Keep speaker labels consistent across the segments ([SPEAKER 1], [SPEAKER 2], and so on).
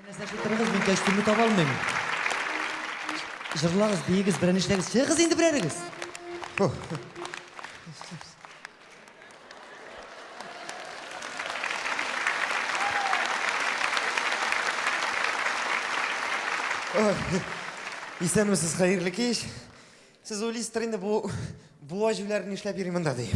[SPEAKER 1] Нәрсәшә торыгыз, мин кәчтүмне таба алмыйм. Җырлагыз, биегез, берәр нишләгез. Чыгыгыз инде берәрегез. Исәнмесез, хәерле кич. Сез уйлыйсыздыр инде, бу буа җүләр нишләп йөри монда дип.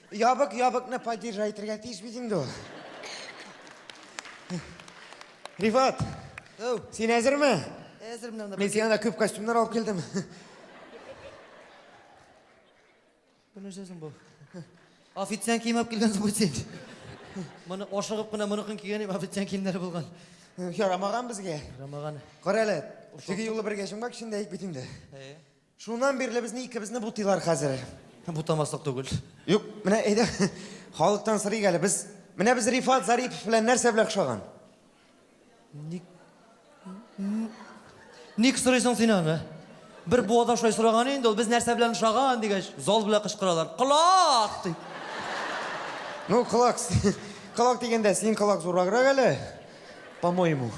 [SPEAKER 1] Ябык ябыкны поддержать итәргә тиеш бит инде ул. Рифат, Ау, син әзерме? әзер менә Мин сиңа да күп костюмнар алып килдем. Бу нәрсә соң бу? Официант кием алып килгән соң бу син. Моны ашыгып кына моныкын кигән идем, официант киемнәре булган. Ярамаган безгә. Рамаган. Кара әле, теге юлы бергә чумгак эчендә ик бит инде. Әйе. Шуннан бирле безне икебезне бутыйлар хәзер. Бутамаслык түгел. Юк, менә әйдә, халыктан сырыйк әле. Без, менә без Рифат Зарипов белән нәрсә белән ошаган? Ник... Ник сорыйсың син аны? Бер буада шулай сораган инде ул, без нәрсә белән ошаган дигәч, зал белән кычкыралар. Колак! ди. Ну, колак, колак дигәндә, синең колак зурраграк әле, по-моему.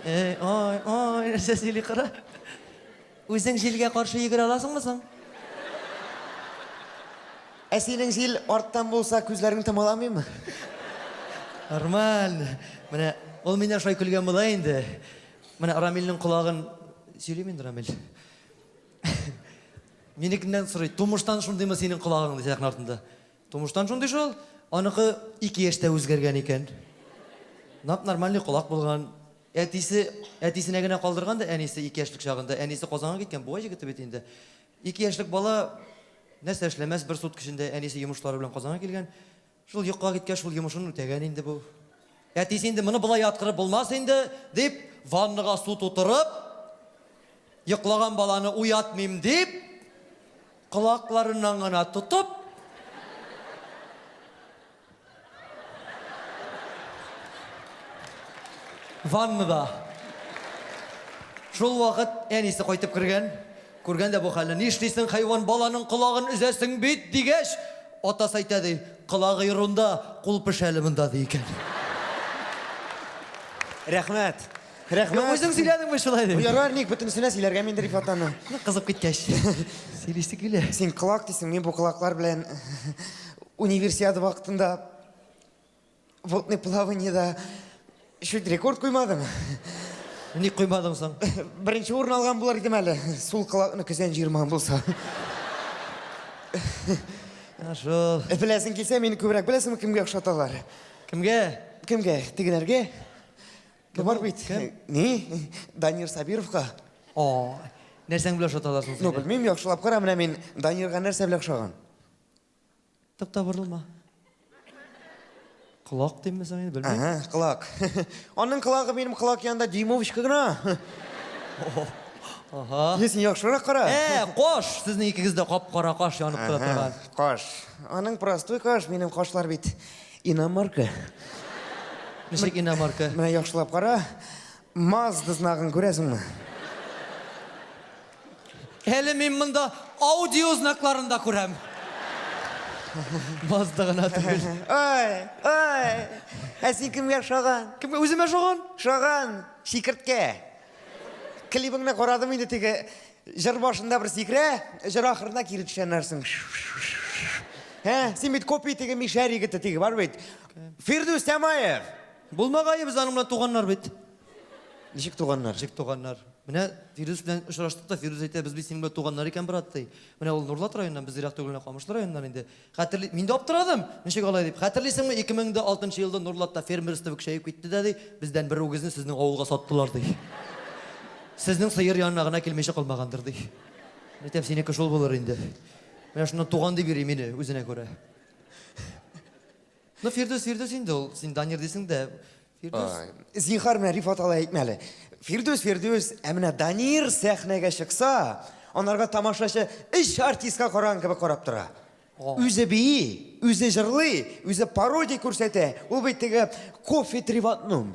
[SPEAKER 1] Эй, ай, ай, нәрсә сөйли кара. Үзең җилгә каршы йөгерә аласыңмы соң? Ә синең җил арттан булса, күзләрең томаламыймы? Нормаль. Менә ул миннән шулай көлгән була инде. Менә Рамилнең колагын сөйлим инде, Рамил. Минекеннән сорый, тумыштан шундыймы синең колагың, ди сәхнә артында. Тумыштан шундый шул. Аныкы ике яшьтә үзгәргән икән. Нап-нормальный колак булган. Әтисе әтисенә генә калдырган да әнисе ике яшьлек чагында, әнисе Казанга киткән, буа җегете бит инде. Ике яшьлек бала нәрсә эшләмәс, бер сутка эчендә әнисе йомышлары белән Казанга килгән. Шул йокыга киткәч, шул йомышын үтәгән инде бу. Әтисе инде моны болай яткырып булмас инде, дип, ваннага су тутырып, йоклаган баланы уятмыйм дип, колакларыннан гына тотып, Ваннада. Шул вакыт әнисе кайтып кергән. Күргән дә бу хәлне. Нишлисең, хайван, баланың колагын өзәсең бит, дигәч, атасы әйтә ди, колагы йорунда, кул пешә әле монда, ди икән. Рәхмәт. Рәхмәт. Юк, үзең сөйләдең бит шулай дип. Ярар, ник бөтенесенә сөйләргә мин Рифат аны. Кызып киткәч. Сөйлисе килә. Син колак дисең, мин бу колаклар белән универсиада вакытында водный плаваниеда чуть рекорд куймадым. Ник куймадың соң? Беренче урын алган булыр идем әле, сул колакны көзән җыермаган булса. Ә шул. Беләсең килсә, мине күбрәк беләсеңме кемгә охшаталар? Кемгә? Кемгә? Тегеләргә? Кем бар ул? бит. Кем? Ни? Данир Сабировка. О, нәрсәң белән ошаталар соң Ну, сине? белмим, яхшылап кара, менә мин Данирга нәрсә белән ошаган? Тукта, борылма. Колак димме соң инде, белмим. Ага, кылак. Аның кылагы минем кылак янында дюймовочка гына. Ага. Е, син яхшырак кара. Ә, кош! Сезнең икегез дә кап-кара каш янып тора Ага, торган. Каш. Аның простой каш, минем кашлар бит. Иномарка. Ничек иномарка? Менә яхшылап кара. Мазда знагын күрәсеңме? Әле мин монда аудио знакларын да күрәм. Мазда гына түгел. Ой, ой. Ә син кемгә ошаган? Кемгә үземә ошаган? Ошаган. Чикерткә. Клибыңны карадым инде теге Җыр башында бер сикерә, җыр ахырына кире төшәнәрсең. Ә, син бит копия теге мишәр егете теге бар бит. Фирдүс Тямаев. Булмагае без аның белән туганнар бит. Ничек туганнар? Ничек туганнар? Менә Фирдүс белән очраштык та, Фирдүс әйтә, без бит синең белән туганнар икән, брат, ди. Менә ул Нурлат районыннан, без ерак түгел менә Камышлы районыннан инде. Хәтерли, мин дә аптырадым, ничек алай дип. Хәтерлисеңме, 2006 елда Нурлатта фермерство көчәеп китте дә, ди, бездән бер үгезне сезнең авылга саттылар, ди. Сезнең сыер янына гына килмичә калмагандыр, ди. Әйтәм, синеке шул булыр инде. Менә шуннан туган дип йөри мине үзенә күрә. Ну, Фирдүс, Фирдүс инде ул. Син Данир дисең дә. Фирдүс. Зинхар менә Рифат алай әйтмә әле. Фирдүс, Фирдүс, ә менә Данир сәхнәгә чыкса, анарга тамашачы өч артистка караган кебек карап тора. Үзе бии, үзе җырлый, үзе пародия күрсәтә. Ул бит теге кофе треватнум.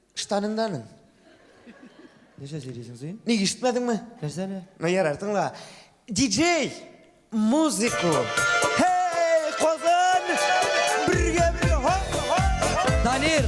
[SPEAKER 1] Штаныңданың. Нәрсә сөйлисең син? Ник ишетмәдеңме? Нәрсә әле? Ну ярар, тыңла. Диджей! Музыку! Хей, Казан! Бергә бергә! Ха, ха, ха! Данир!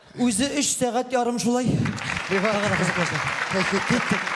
[SPEAKER 1] Үзе өч сәгать ярым шулай. Буга гына кызыклыйсы. Киттек.